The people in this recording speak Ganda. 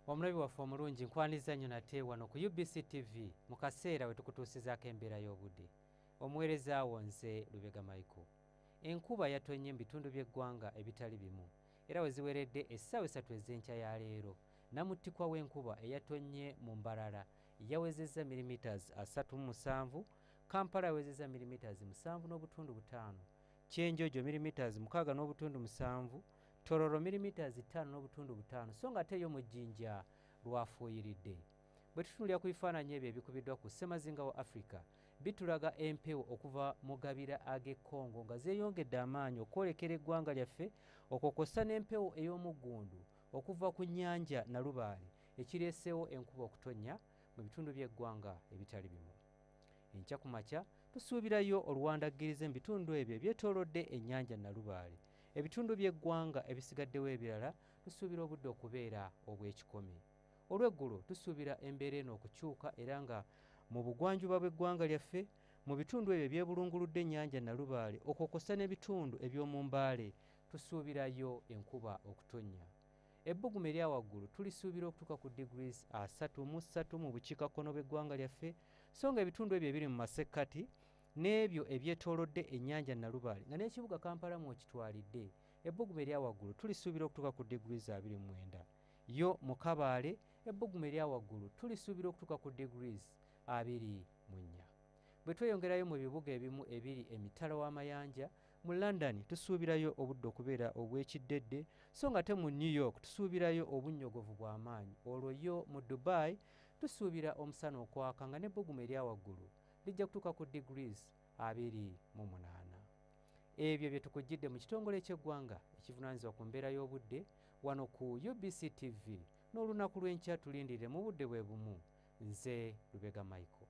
omulabi waffe omulungi nkwaniza nnyo nate wano ku ubc tv mu kaseera we tukutuusizaako embeera y'obudde omuweereza wo nze lubega michael enkuba yatonnye mu bitundu by'eggwanga ebitali bimu era we ziweredde essaawa esatu ez'enkya ya leero namuttikwa w'enkuba eyatonnye mu mbarara yawezezza milimetres 37 kampala yawezezza milimetres 7 n'obutundu butaano kyenjojo milimetres 6 n'obutundu musanvu Tororo milimiters ttaano n'obutundu butaano so nga ate yo mu jjinja lwafuuyiridde. Bwe tutunulira ku bifaananyi ebyo ebikubiddwa ku ssemazinga wa Afrika, bitulaga empewo okuva mu gabira ag'e Congo nga zeeyongedde amaanyi okwolekera eggwanga lyaffe okwo kwossa n'empewo ey'omuggundu okuva ku nnyanja Nalubaale ekireeseewo enkuba okutonnya mu bitundu by'eggwanga ebitali bimu. Enkya ku makya tusuubirayo oluwandaggirize mu bitundu ebyo ebyetoolodde ennyanja Nalubaale. Ebitundu by'eggwanga ebisigaddewo ebirala tusuubira obudde okubeera obw'ekikomi. Olw'eggulo tusuubira embeera eno okukyuka era nga mu bugwanjuba bw'eggwanga lyaffe mu bitundu ebyo ebyebulunguludde ennyanja Nalubaale okwo kwossa n'ebitundu eby'omu Mbaale tusuubirayo enkuba okutonnya. Ebbugumu erya waggulu tulisuubira okutuuka ku degrees asatu mu ssatu mu bukiikakkono bw'eggwanga lyaffe so nga ebitundu ebyo ebiri mu masekkati n'ebyo ebyetoolodde ennyanja Nalubaale nga n'ekibuga Kampala mw'okitwalidde ebbugumu erya waggulu tulisuubira okutuuka ku diguli za 29 yo mu Kabaale ebbugumu erya waggulu tulisuubira okutuuka ku diguli abiri mu nnya bwe tweyongerayo mu bibuga ebimu ebiri emitala w'amayanja mu london tusuubirayo obudde okubeera obw'ekiddedde so nga te mu new york tusuubirayo obunnyogovu bw'amaanyi olwo yo mu dubai tusuubira omusana okwaka nga n'ebbugumu erya waggulu lijja kutuuka ku degrees abiri mu munaana ebyo bye tukujjidde mu kitongole ky'eggwanga ekivunaanyizibwa ku mbeera y'obudde wano ku ubc tv n'olunaku lw'enkya tulindirire mu budde bwe bumu nze lubega michael